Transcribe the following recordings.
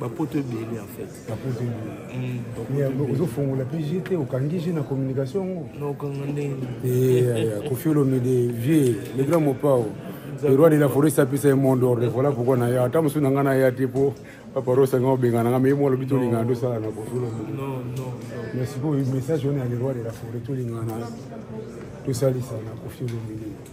bapoto ebele en fait bapoto ebele mm. ozofongola mpe je te okangi je na communication yango naokanga ndenge eh, kofi olomide vieux le grand mopao le roi de la forêt sapesa ye monde ordre voilà pourquoi na ya ata mosusu na ngai na ya te mpo paparosa ngai obengana ngai meye molobi tolingana tosala na kofi olomide mais sikoyo message wana ya le roi de la forêt tolingana tosalisa na kofi olomide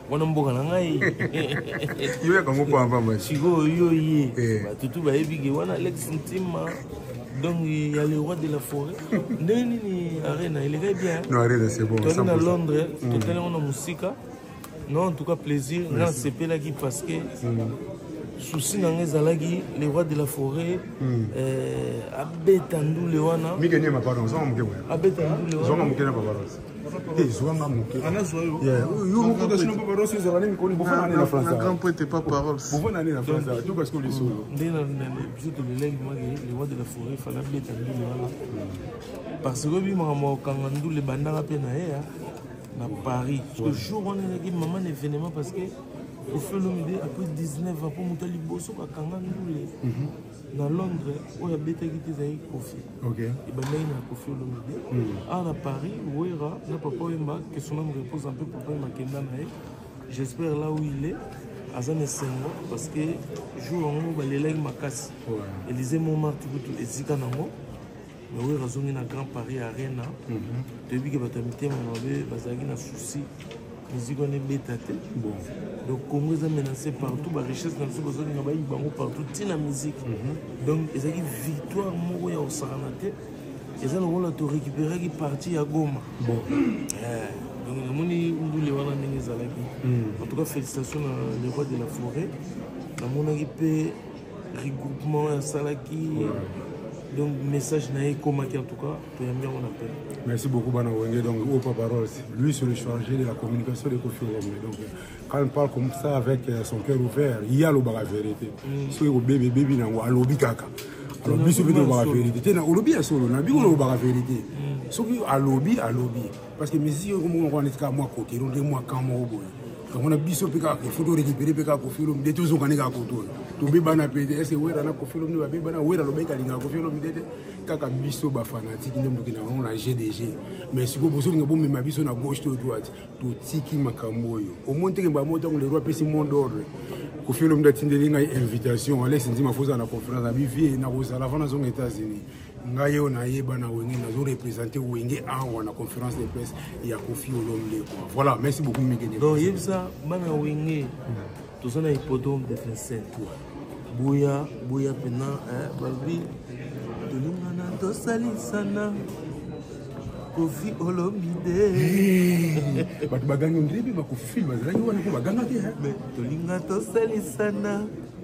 wana mboka na ngai yo yaka ngo pamba ma sikoyo yo ye eh. batutu bayebi ke wana alex ntima donc il y a le roi de la forêt ndenge nini arena elekaki bien non arena c'est bon toli na londres mm. totali yango na mosika non en tout cas plaisir nga nasepelaki parce que mm. souci na nga ezalaki le roi de la forêt mm. euh, abeta ndule wana abeta ndule wana te zwa nga moke yo moko te sino papa rosi ezala nini koni bofana nini na france grand poete pas paroles bofana nini na france to kasi ko lisolo nde na biso tolelaki mwake le roi de la forêt fala beta ndule wana parce que bimaka mokanga ndule bandaka mpe na ye na paris le jour wana ezalaki maman na événement parce que ofelomide après 19 ans mpo moto ya liboso kakanga ndule na londres oyo abetaki te ezalaki kofi ebandaki na kofi olomide hmm. awa na paris wera na papa oyemba que son ame repose mpe papa oyemba akenda na ye j'espère là où il est aza na esengo parce que jour yango balelaki makasi elize momarti kutu ezika nango bawera azongi na grand paris arena mhm. toyebi ke bato ya mitema mabe bazalaki na souci miziki wana ebeta te donc congo eza menance partout barichesse na biso bazolinga bayibi bango partout ntina miziki mhm. donc ezalaki victoire moko ya kosakana te eza lokola torécupéraki parti ya goma bon. yeah. donc namoni ndule wana ndenge ezalaki mhm. en tout cas félicitation na le roi de la forêt namonaki mpe regroupement asalaki donc message na ye ekomaki en tout cas toyambi yango na pele merci beaucoup bana wenge donc oyo pa parole lui sur le chargé de la communication de kofi wenge donc quand il parle comme ça avec euh, son cœur ouvert ye alobaka vérité mm. soki kobebi ebebi nango alobi kaka alors biso mpe tolobaka vérité te na olobi ya solo na biko lobaka vérité mm. soki alobi alobi parce que musique oyo komoko wana etikaka mwa kokero nde mwa kan moko boye kamona biso mpe kaka kofi torekipere mpe kaka kofi olombi nde tozokani kaka koto oyo tobebana mpe te ese wera na kofi olombi babebana wera lobaki alingaka kofi olombi te te kaka biso bafanatike nde motoki na bango na g de g mais sikoyo bozolinga bomema biso na gauche to droite totiki makambo oyo omoni teke mbamo ntango lero apesi monde ordre kofi olombi atindeli ngai invitation alexi nzima fozala na conférence na bivie nakozala avant nazonga états-unis ngai oyo nayeba na wenge nazo represente wenge awa na conférence de presse ya kofi olomde quoi voilà merci beaucoup mikene donc yebisa bana wenge toza na hippodrome de vincent boya boya mpena eh, balobi tolingana tosalisana kofi olomide bato bagangi ondire mpe bakofilme bazalaki wana mpo bagangaki tolinga tosalisana